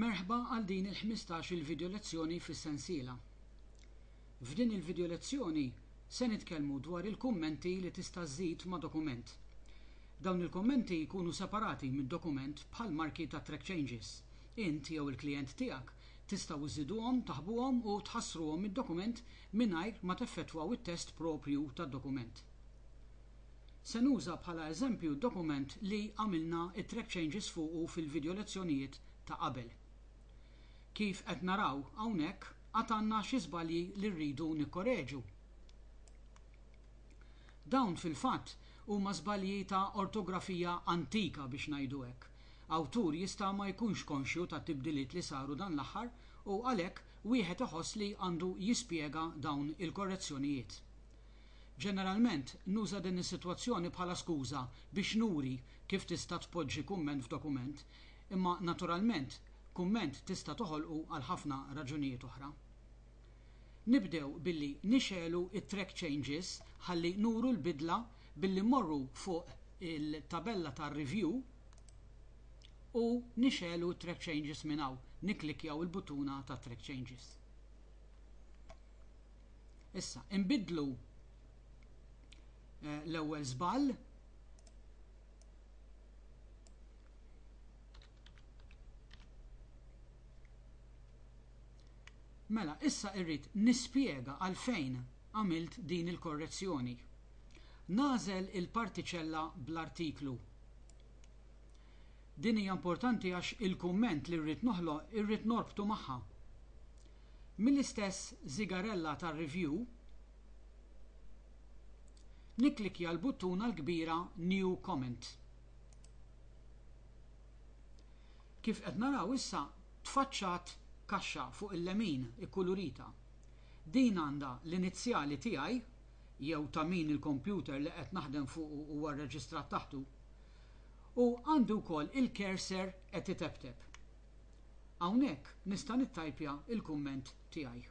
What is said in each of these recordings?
Merħba għal din il-ħmistax-il video lezzjoni fis-sensiela. F'din il-video lezzjoni se nitkellmu dwar il-kummenti li tista' żżid ma' dokument. Dawn il-kummenti jkunu separati mid-dokument bħal marki ta' track changes. Int jew il-klijent tiegħek tistgħu żżiduhom, taħbuhom u tħassruhom mid-dokument mingħajr ma teffettwaw it-test proprju tad-dokument. Se nuża bħala eżempju d-dokument li għamilna t-track changes fuqu fil-video lezzjonijiet ta' qabel. Kif qed naraw hawnhekk għad għandna xi żbalji li rridu nikkoreġu. Dawn fil-fatt huma żbalji ta' ortografija antika biex ngħidu hekk. Awtur jista' ma jkunx konxju tat-tibdiliet li saru dan l-aħħar u għalhekk wieħed iħoss li għandu jispjega dawn il-korrezzjonijiet. Ġeneralment, nuża din is-sitwazzjoni bħala skuża biex nuri kif tista' tpoġġi kumment f'dokument, imma naturalment kumment tista' toħolqu għal ħafna raġunijiet oħra. Nibdew billi nixegħlu t-track changes ħalli nuru l-bidla billi mmorru fuq il-tabella tar-review u nixegħlu t-track changes minn hawn, nikklikkjaw il-buttuna tat-track changes. Issa, inbiddlu eh, l-ewwel żball Mela, issa irrid nispjega għalfejn għamilt din il-korrezzjoni. Nażel il-partiċella bl-artiklu. Din hija importanti għax il-kumment li rrid noħloq irrid norbtu magħha. Mill-istess żigarella tar-review, nikklikkja l-buttuna l-kbira New Comment. Kif qed naraw issa tfaċċat kaxxa fuq il-lemin ikkulurita. Din għandha l-inizjali tiegħi jew ta' min il-kompjuter li qed naħdem fuqu huwa rreġistrat taħtu u għandi wkoll il-cursor qed iteptep. Hawnhekk nista' nittajpja l-kumment tiegħi.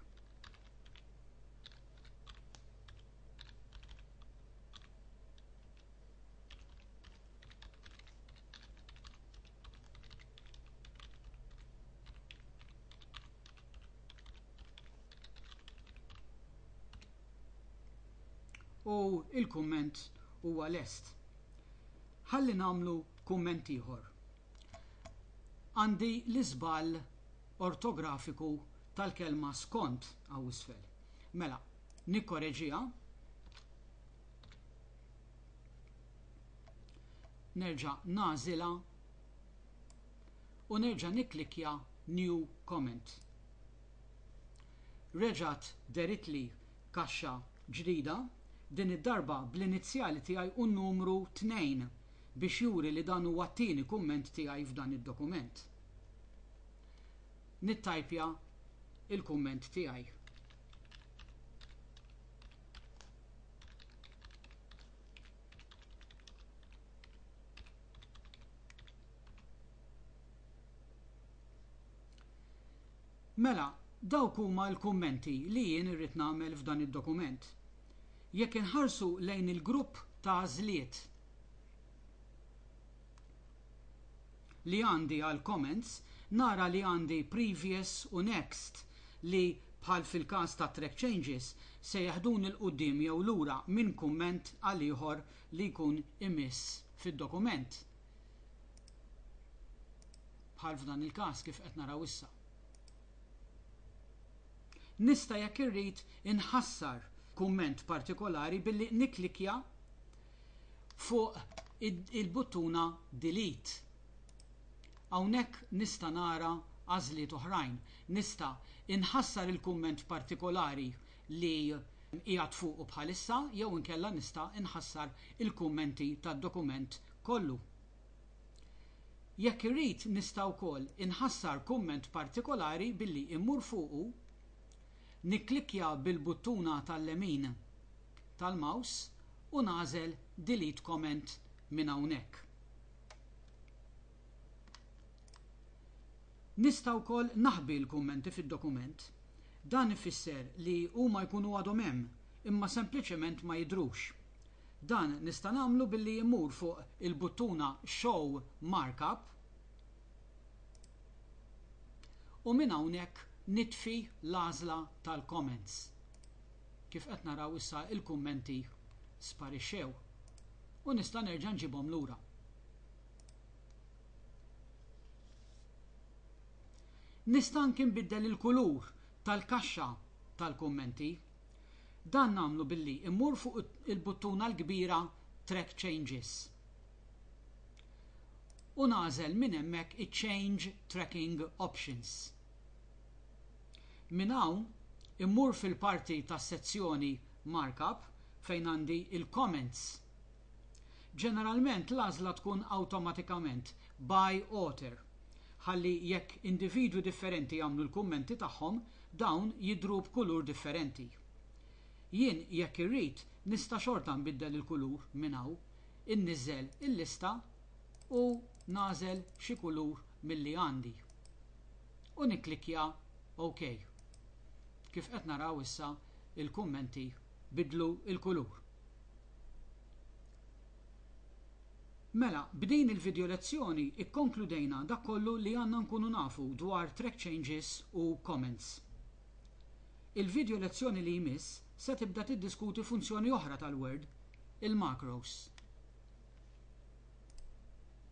u il-kumment huwa lest. Ħalli nagħmlu kumment ieħor. Għandi l-iżball ortografiku tal-kelma skont hawn isfel. Mela, nikkoreġiha. Nerġa' nagħżilha u nerġa' nikklikkja New Comment. Reġgħet deritli kaxxa ġdida, din id-darba bl-inizjali tiegħi u n-numru tnejn biex juri li dan huwa t-tieni kumment tiegħi f'dan id-dokument. Nittajpja l-kumment tiegħi. Mela, dawk huma l-kummenti li jien irrid nagħmel f'dan id-dokument. Jekk inħarsu lejn il-grupp ta' għażliet li għandi għall-comments, nara li għandi previous u next li, bħal fil-każ tat-track changes, se jeħduni 'l quddiem jew lura minn kumment għal ieħor li jkun imiss fid-dokument. Bħal f'dan il-każ kif qed naraw issa. Nista' jekk irrid inħassar kumment partikolari billi nikklikkja fuq il-buttuna Delete. Hawnhekk nista' nara għażliet oħrajn. Nista' inħassar il-kumment partikolari li qiegħed fuqu bħalissa jew inkella nista' inħassar il-kummenti tad-dokument kollu. Jekk irrid nista' wkoll inħassar kumment partikolari billi mmur fuqu, nikklikkja bil-buttuna tal-lemin tal-mouse u nagħżel Delete Comment minn hawnhekk. Nista' wkoll naħbi l-kummenti fid-dokument. Dan ifisser li huma jkunu għadhom hemm, imma sempliċement ma jidhrux. Dan nista' nagħmlu billi mmur fuq il-buttuna Show Markup u minn hawnhekk nitfi l-għażla tal-Comments. Kif qed naraw issa l-kummenti sparixxew u nista' nerġa' nġibhom lura. Nista' anki nbiddel il-kulur tal-kaxxa tal-kummenti. Dan nagħmlu billi mmur fuq il-buttuna l-kbira Track Changes u nagħżel minn hemmhekk iċ-Change Tracking Options. Minn hawn immur fil-parti tas-sezzjoni Markup fejn għandi l-comments. Ġeneralment l-għażla tkun awtomatikament by author ħalli jekk individwi differenti jagħmlu l-kummenti tagħhom Dawn jidhru b'kulur differenti. Jien jekk irrid nista' xorta nbiddel il-kulur minn hawn, inniżżel il-lista u nagħżel xi kulur milli għandi. U nikklikkja OK. Kif qed naraw issa il-kummenti bidlu l-kulur. Mela, b'din il-video lezzjoni ikkonkludejna dak kollu li għandna nkunu nafu dwar track changes u comments. Il-video lezzjoni li jmiss se tibda tiddiskuti funzjoni oħra tal-Word, il-macros.